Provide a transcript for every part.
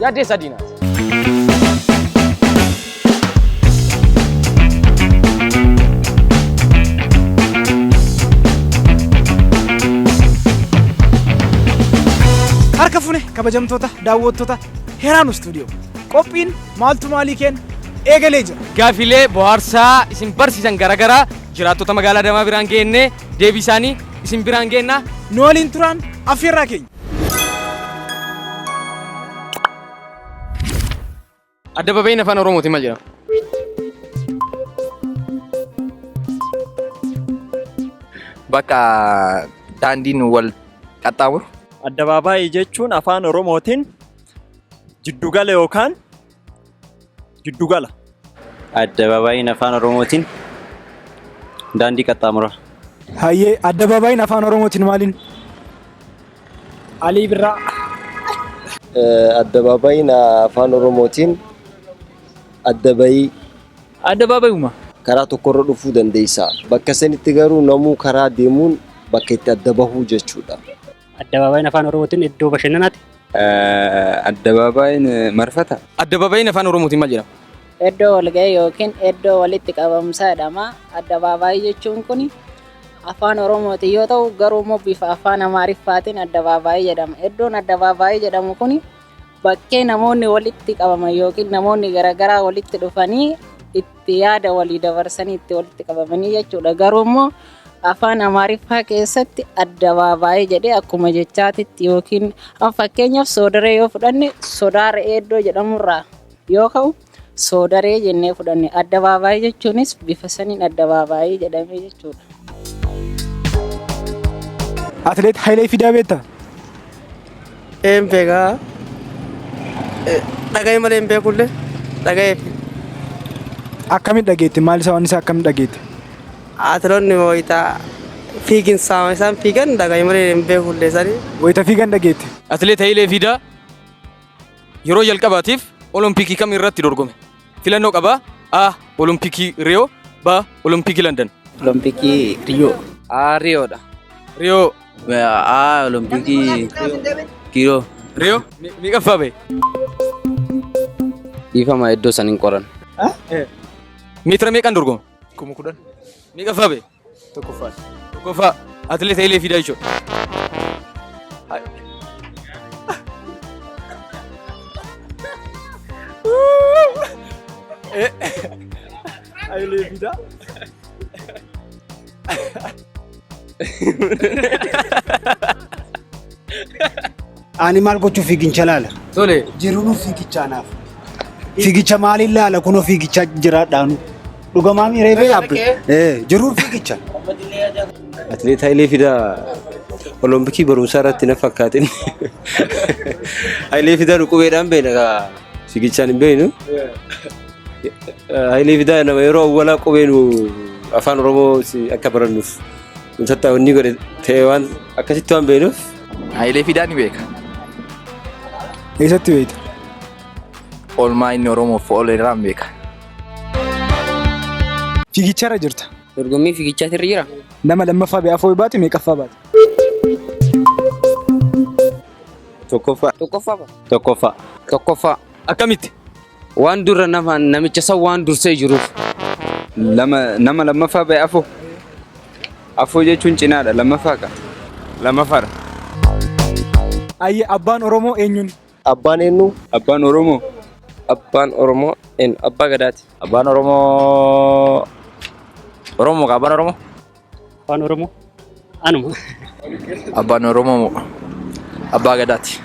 Yaaddee sadii naati. Harka fune kabajamtoota daawwattoota Heraanu Studio. Qophiin maaltu maalii keen eegalee jira. Gaafilee bohaarsaa isin barsiisan garaagaraa jiraattota magaalaa Adamaa biraan geennee deebii isaanii isin biraan geenna. Nu waliin turaan affeerraa keenya. Addababayiin afaan Oromootiin maal jedhama? Bakka daandiin wal qaxxaamuru. Addabaabaayii jechuun afaan Oromootiin jiddugala yookaan Giddugala. Addabaabaayiin Afaan Oromootiin daandii qaxxaamura. Hayyee addabaabaayiin Afaan Oromootiin maaliin? Alii Birraa. Addabaabaayiin Afaan Oromootiin addabayii. Addabaabayuma. Karaa tokkorra dhufuu dandeessa. Bakka sanitti garuu namuu karaa deemuun bakka itti adda bahuu jechuudha. Addabaabaayiin afaan Oromootiin iddoo bashannanaati. Addabaabaayiin marfata. Addabaabaayiin afaan Oromootiin maal jedhama? Iddoo walga'ii yookiin iddoo walitti qabamsaa jedhama. Addabaabaayii jechuun kun afaan Oromootiin yoo ta'u garuu immoo bifa afaan Amaariffaatiin addabaabaayii jedhama. Iddoon addabaabaayii jedhamu kun Bakkee namoonni walitti qabaman yookiin namoonni garaagaraa walitti dhufanii itti yaada walii dabarsanii itti walitti qabamanii jechuudha. Garuu immoo afaan Amaariffaa keessatti addabaabaayii jedhee akkuma jechaatitti yookiin fakkeenyaaf soodaree yoo fudhanne sodaa re'ee iddoo jedhamurraa yoo ka'u Soodaree jennee fudhanne. Addabaabaayii jechuunis bifa saniin addabaabaayii jedhamee jechuudha. Atileet Hayilee Fidaa beektaa? Een beekaa. Dhaga'ee malee hin beekullee dhaga'ee fi Akkamitti dhageette? Maal isaa waan isaa akkamitti dhageette? atiloonni wayitaa fiiginsaa isaan fiigan dhaga'ee malee hin beekullee sanii. Wayita fiigan dhageette. Atileet Hayilee Fidaa Yeroo jalqabaatiif Olompikii kam irratti dorgome? Filannoo qaba. A. Olompikii Riyoo B. Olompikii Landan Olompikii Riyoo. A. Riyoodha. Riyoo A. Olompikii Riyoo. Riyoo meeqaffaa bahe? Dhiifama iddoo san hin qoran. Meetira meeqaan dorgoma? Kuma kudhan. Meeqaffaa bahe? Tokkoffaan. Tokkoffaa atileet Hayilee Fiidaa jechuudha. Hayilee Fiidaa. Ani maal gochuuf fiigicha laala? Tole. Jiruun fiigichaa naaf. Fiigicha maaliin laala kunoo fiigichaa jiraadhaanu. Dhugamaa miiree bee abbe. Eh, Jiruun fiigicha. Atileet Hayilee Fidaa Olompikii barumsaa irratti na fakkaatin. Hayilee Fidaa qubeedhaan beekna kaa fiigichaan hin beeknu. Hayilee Fidaa nama yeroo awwalaa qubeen afaan Oromoo si- akka barannuuf Tattaaf inni godhe ta'e waan akkasitti waan beeknuuf. Hayilee Fidaa ni beeka. Eessatti beekta? Oolmaa inni Oromoof oole irraa ni beeka. Fiigicharra jirta. Dorgommii fiigichaatti irra jira. Nama lammaffaa ba'ee afoo baate meeqaffaa baate? Tokkoffaa. Tokkoffaa. Tokkoffaa. Tokkoffaa. Akkamitti? Waan durra nama namicha san waan dursee jiruuf. Lama nama lammaffaa ba'e afoo. Afoo jechuun cinaadha lammaffaa ka. Lammaffadha. Ayyee abbaan Oromoo eenyuni? Abbaan eennu? Abbaan Oromoo. Abbaan Oromoo eennu? Abbaa Gadaati. Abbaan Oromoo Oromoo ka abbaan Oromoo? Afaan Oromoo anuma. Abbaan Oromoo moo Abbaa Gadaati.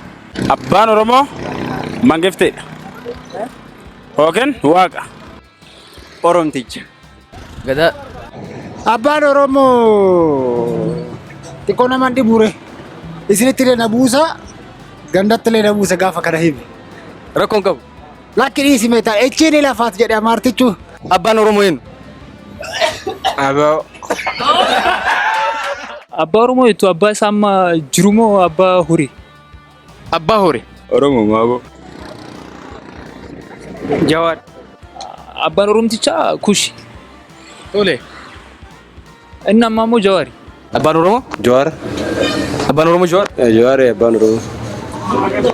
Abbaan Oromoo mangifteedha. Yookiin waaqa. Oromticha. Gadaa. Abbaan Oromoo xiqqoo nama hin dhibuure. Isinitti illee na buusa, gandatti illee na buusa gaafa kana hime. Rakkoon qabu. Lakki dhiisi mee ta'a. Echii ni lafaat jedhe amaartichu. Abbaan Oromoo eenyu? Aboo. Abbaa Oromoo jettu abbaa isaa amma jiru moo abbaa horii? Abbaa horii. Oromoo moo aboo? Jawaar. Abbaan Oromtichaa kushi. Tole. Inni ammaa immoo Jawaari. Abbaan Oromoo? Jawaar. Abbaan Oromoo Jawaar? Jawaar abbaan Oromoo.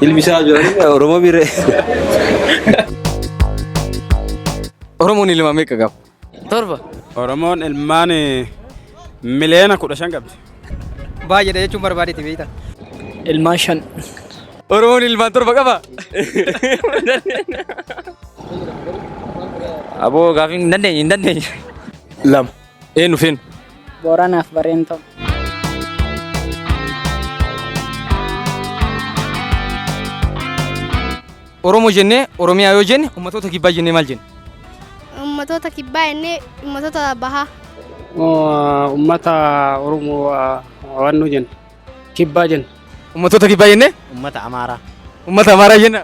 Ilmi isaa Jawaar Oromoo miire. Oromoon ilma meeqa qaba? Torba. Oromoon ilmaan miliyoona kudha shan qabdi. Baay'eedha jechuun barbaadeeti beekta. Ilmaan shan. Oromoon ilmaan torba qaba? Aboo gaafiin hin dandeenye hin dandeenye. Lama. Eenyu fi eenyu? Booranaaf Bareentoo. Oromoo jennee Oromiyaa yoo jenne ummatoota kibbaa jennee maal jenna? Ummatoota kibbaa jennee ummatoota bahaa. Ummata Oromoo waannoo jenna. Kibbaa jenna. Ummatoota kibbaa jennee? Ummata Amaaraa. Ummata Amaaraa jenna.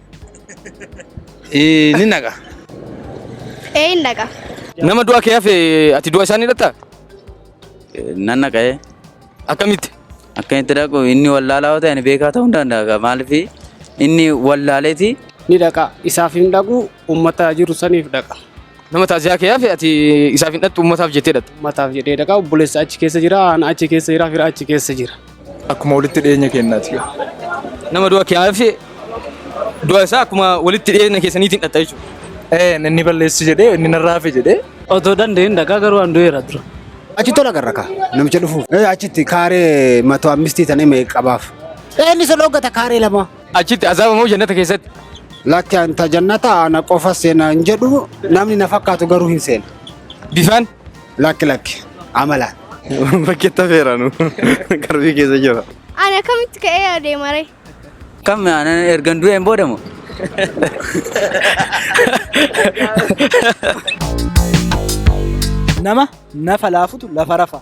Ee, ni naqa. Ee hin dhaqa. Nama du'a kee hafe ati du'a isaa ni dhatta? Nan naqa'ee Akkamitti? akka itti dhaqu inni wallaalaa yoo ta'e ani beekaa ta'uu hin danda'a. Maaliif inni wallaaleeti Ni dhaqa. Isaaf hin dhaqu uummata jiru saniif dhaqa. Nama taasisaa kee hafe ati isaaf hin dhattu uummataaf jettee dhatta. Uummataaf jedhee dhaqa. Obboleessa achi keessa jira. Ana achi keessa jira. Fira achi keessa jira. Akkuma walitti dhiyeenya keenyaati. Nama du'a kiyyaaf du'a isaa akkuma walitti dhiyeenya keessaniitiin dhatta jechuudha. Ee inni balleessi jedhee inni narraa hafe jedhee. Otoo dandeenye dhagaa garuu an du'eera dura. Achi tola garra kaa namicha dhufuuf. Ee achitti kaaree mato ammistii tanee mee qabaaf. Ee inni isa dhooggata kaaree lama. Achitti azaaba moo jannata keessatti? Lakki anta jannata ana qofa seena hin jedhu namni na fakkaatu garuu hin seena. Bifaan? Lakki lakki amala. Bakkeetti hafeera nu qarbii keessa jira. Ani akkamitti ka'ee adeema ree? Kam aanan ergan du'een booda moo? Nama nafa laafutu lafa rafa.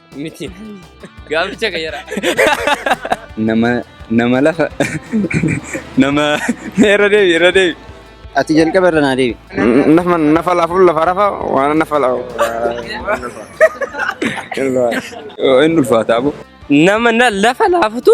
Miti. Gaaficha qayyara. Nama nama lafa nama irra deebi irra deebi. Ati jalqaba irra naa deebi. Nafa nafa laafuun lafa rafa waan nafa laafu. Hin ulfaataa bu. Nama na- lafa laafutu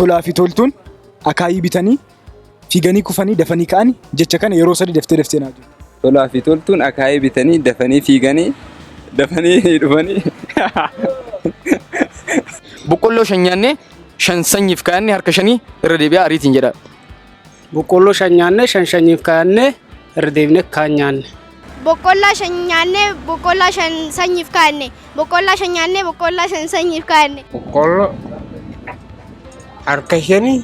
Tolaa fi toltuun akaayii bitanii fiiganii kufanii dafanii ka'anii jecha kana yeroo sadii daftee daftee naa jiru. Tolaa fi toltuun akaayii bitanii dafanii fiiganii dafanii dhufanii. Boqqolloo shan nyaannee shan sanyiif kaa'anne harka shanii irra deebi'aa ariitiin jedha. Boqqoolloo shan nyaannee shan shanyiif kaa'annee irra deebinee kaan nyaanne. Boqqoollaa shan nyaannee boqqoollaa shan sanyiif kaa'anne. Boqqoollaa shan nyaannee boqqoollaa shan sanyiif kaa'anne. Boqqoolloo harka shanii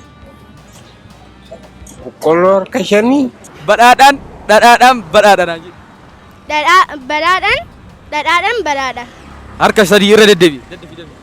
boqqoolloo harka shanii. Badhaadhaan dhadhaadhaan badhaadha naan jedhi. Dhadhaa badhaadhaan dhadhaadhaan badhaadha. Harka sadii irra deddeebi'i.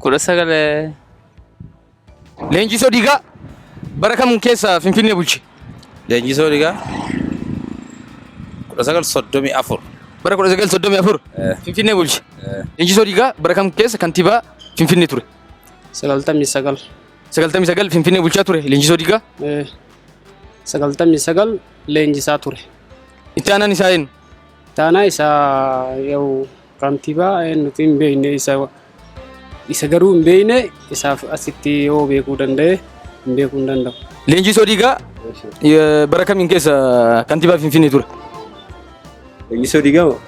kudha sagal Leenjisoo Diigaa bara kam keessa Finfinnee bulche? Leenjisoo Diigaa kudha sagal soddomii afur. Bara kudha sagal soddomii afur Finfinnee bulche. Leenjisoo Diigaa bara kam keessa kantiibaa Finfinnee ture? Sagaltamii sagal. Sagaltamii sagal Finfinnee bulchaa ture Leenjisoo Diigaa. Sagaltamii sagal leenjisaa ture. Itti aanaan isaa eenyu? Itti aanaa isaa yoo Kantibaa nuti hin beekne isa isa garuu hin beekne isaaf asitti yoo beekuu danda'e hin beekuu hin danda'u. Leenjii Soodiigaa eh, bara kamiin keessa kantibaa Finfinnee ture? Leenjisoo diigaa moo?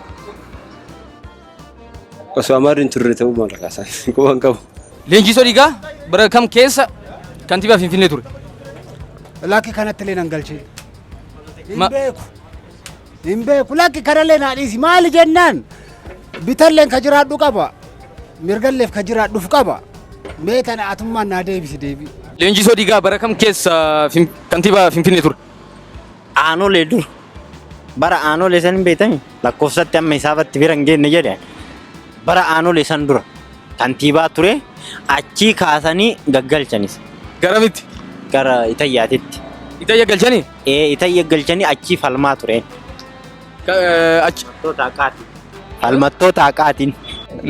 Osoo amaarri hin turre ta'uu maal kaasan? Quba hin qabu. Leenjii Soodiigaa bara kam keessa kantibaa Finfinnee ture? Lakki kanatti illee nan galchee. Ma- Hin beeku. Hin beeku lakki kanallee naa dhiisi maali jennaan bitalleen ka jiraadhu qaba mirgalleef ka jiraadhuuf qaba mee tana atummaan naa deebisi deebii. Leenjisoo Digaa bara kam keessa fin- kantiibaa Finfinnee ture? Aanolee dur. Bara aanolee san hin beektanii? Lakkoofsatti amma isaafatti bira hin geenne jedhe. Bara aanolee san dura kantiibaa ture achii kaasanii gaggalchanis Garamitti? gara Itayyaatitti. Itayya galchanii? Ee itayya galchanii achii falmaa tureen. Achi Falmattoota haqaatiin.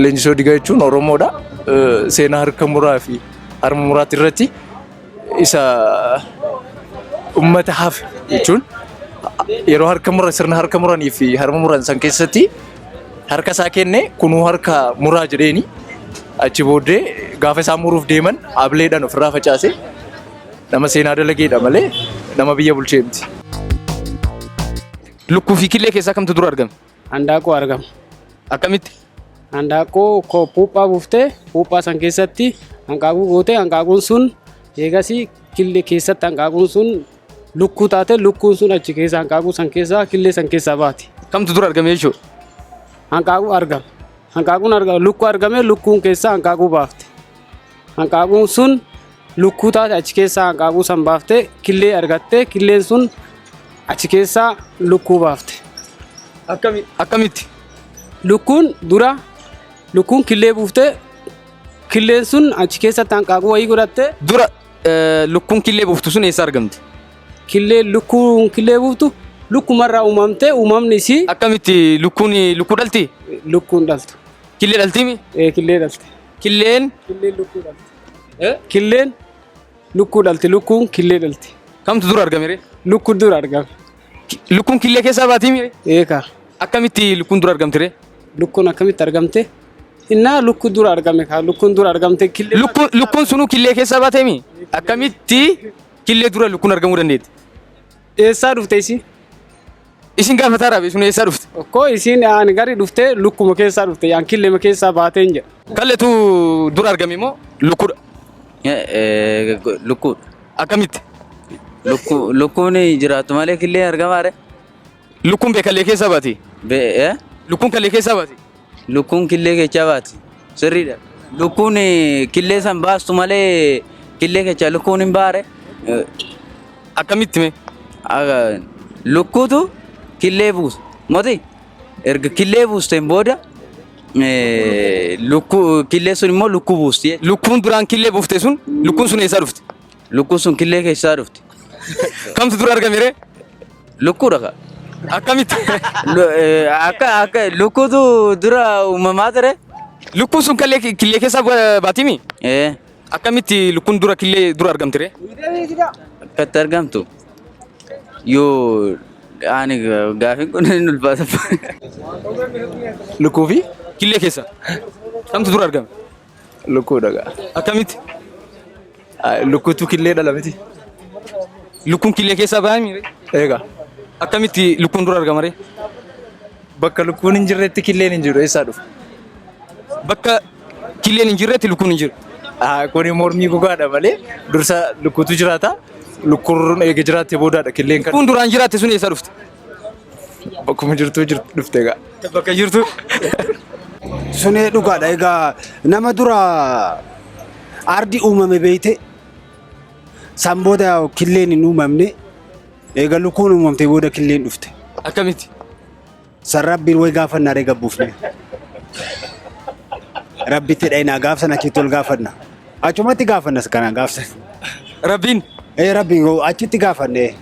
leenjisoo digaa jechuun Oromoodha. Eh, Seenaa harka muraa fi harma muraati irratti isa uummata hafe jechuun yeroo harka mura sirna harka muranii fi harma muran san keessatti harka isaa kenne kunuu harka muraa jedheeni achi booddee gaafa isaa muruuf deeman ableedhaan ofirraa facaase Nama seenaa dalageedha malee nama biyya bulchee miti. Lukkuu fi killee keessaa kamtu dura argame? Handaaqoo argama. Akkamitti? Handaaqoo ko- puuphaa buuftee puuphaa san keessatti hanqaaquu gootee hanqaaquun sun eegasii killee keessatti hanqaaquun sun lukkuu taate lukkuun sun achi keessa hanqaaquu san keessaa killee san keessaa baati. Kamtu dura argame jechuudha? Hanqaaquu argama. Hanqaaquun argama. Lukkuu argame lukkuun keessaa hanqaaquu baafte. Hanqaaquun sun lukkuu taate achi keessaa hanqaaquu san baafte killee argatte killeen sun achi keessaa lukkuu baafte. Akkami- Akkamitti? Lukkuun dura lukkuun killee buufte killeen sun achi keessatti hanqaaquu wayii godhatte Dura eh, lukkuun killee buuftu sun eessa argamti? killee lukkuun killee buuftu lukkumarraa uumamte uumamni isii Akkamitti lukkuun lukkuu dhalti? lukkuun dhaltu Killee dhaltimi? Eh, killee dhalte. Killeen Killeen lukkuu dhalti. eh, Killeen lukkuu dhalti. Lukkuun killee dhalti. kamtu dura argame ree? Lukkuu dura argame. Ki- Lukkuun killee keessaa baatii mire? Eekaa. Akkamitti lukkuun dura argamti ree? Lukkuun akkamitti argamte? Innaa lukkuu dura argame kaa. Lukkuun dura argamte killee. Lukkuun lukkuun sunuu killee keessaa baatee mi? Akkamitti killee dura lukkuun argamuu dandeetti? Eessaa dhufte isin? Isin gaafataa raabe sun eessaa dhufte? Okkoo isin aan gari dhufte lukkuma keessaa dhufte yaan killema keessaa baateen jedha. Kalletu dur argame moo lukkudha? Lukkuu. Akkamitti? Lukkuu lukkuun jiraattu malee killee argamaare. Lukkuun bee kallee keessaa baati? Bee Lukkuun kallee keessaa baati? Lukkuun killee kechaa baati. Sirriidha. Lukkuun killee san baastu malee killee kechaa lukkuun hin baare. Akkamitti mee? Lukkuutu killee buusa. Moti erga killee buusteen booda lukkuu killee sun immoo lukkuu buusti. Lukkuun duraan killee buufte sun lukkuun sun eessaa dhufte? Lukkuun sun killee keessaa dhufte. Kamtu dura argame ree? Lukkuudha ka. Akkamitti? Lu- eh, Akka akka lukkuutu dura uumamaa ture. Lukkuun sun kallee killee keessaa ba- baatimi? Eh, Akkamitti lukkuun dura killee dura argamti ree? Akkatti argamtu. Yoo ani ga- gaafiin kun hin ulfaata. Lukkuu fi Killee keessa. Kamtu dura argame? Lukkuu dhagaa. Akkamitti? Lukkuutu killee dhala miti. Lukkuun killee keessaa bahaa miire? Eegaa. Akkamitti lukkuun dura argama ree? Bakka lukkuun hin jirretti killeen hin jiru eessaa dhufa? Bakka killeen hin jirretti lukkuun hin jiru. Kuni mormii gogaadha malee dursa lukkuutu jiraata. Lukkuun eega jiraatte boodaadha killeen kan. Lukkuun duraan jiraatte sun eessaa dhufte? Bakkuma jirtuu jirtu dhufte egaa. Bakka jirtu. Sunee dhugaadha egaa nama dura ardi uumame beeyte san booda killeen hin uumamne eega lukkuun uumamte booda killeen dhufte. Akkamitti? San rabbiin way gaafannaa ree gabbuufne. Rabbitti dhayinaa gaaf san achitti ol gaafanna. Achumatti gaafannas kanaan gaafsan. Rabbiin. Ee rabbi achitti gaafanne.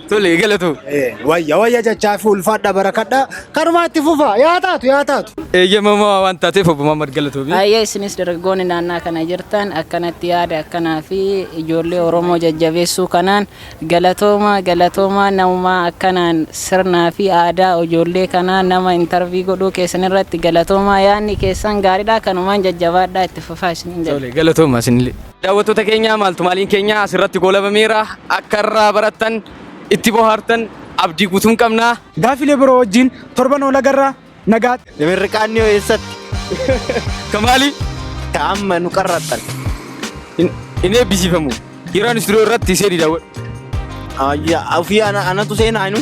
Tole galatu. Ee wayya wayya jechaa fi ulfaadha barakadha kanumaa itti fufa yaa taatu yaa taatu. Eeyyamamaa waan taateef obbo Mahammad Galatoomi. Ayyee isinis dargaggoonni naannaa kana jirtan akkanatti yaada akkanaa fi ijoollee Oromoo jajjabeessuu kanaan Galatoomaa galatoomaa namumaa akkanaan sirnaa fi aadaa ojoollee kanaa nama intervii godhuu keessan irratti galatoomaa yaadni keessan gaaridhaa kanumaan jajjabaadhaa itti fufaa isiniin jedha. Tole galatoomaa isinillee. Daawwattoota keenya maaltu maaliin keenya asirratti goolabameera akka irraa barattan itti bohaartan abdii guutuun qabna. Gaaffilee biroo wajjin torban olagarra. Nagaatti. Mirriqaanni hoo eessatti? Ka maali? Ka amma nu qarrattan. Hin- Hin eebbisiifamu. Yeroo ani istiroo irratti seeni daawwadhu. Ayya, ofii ana- anatu seenaa inu.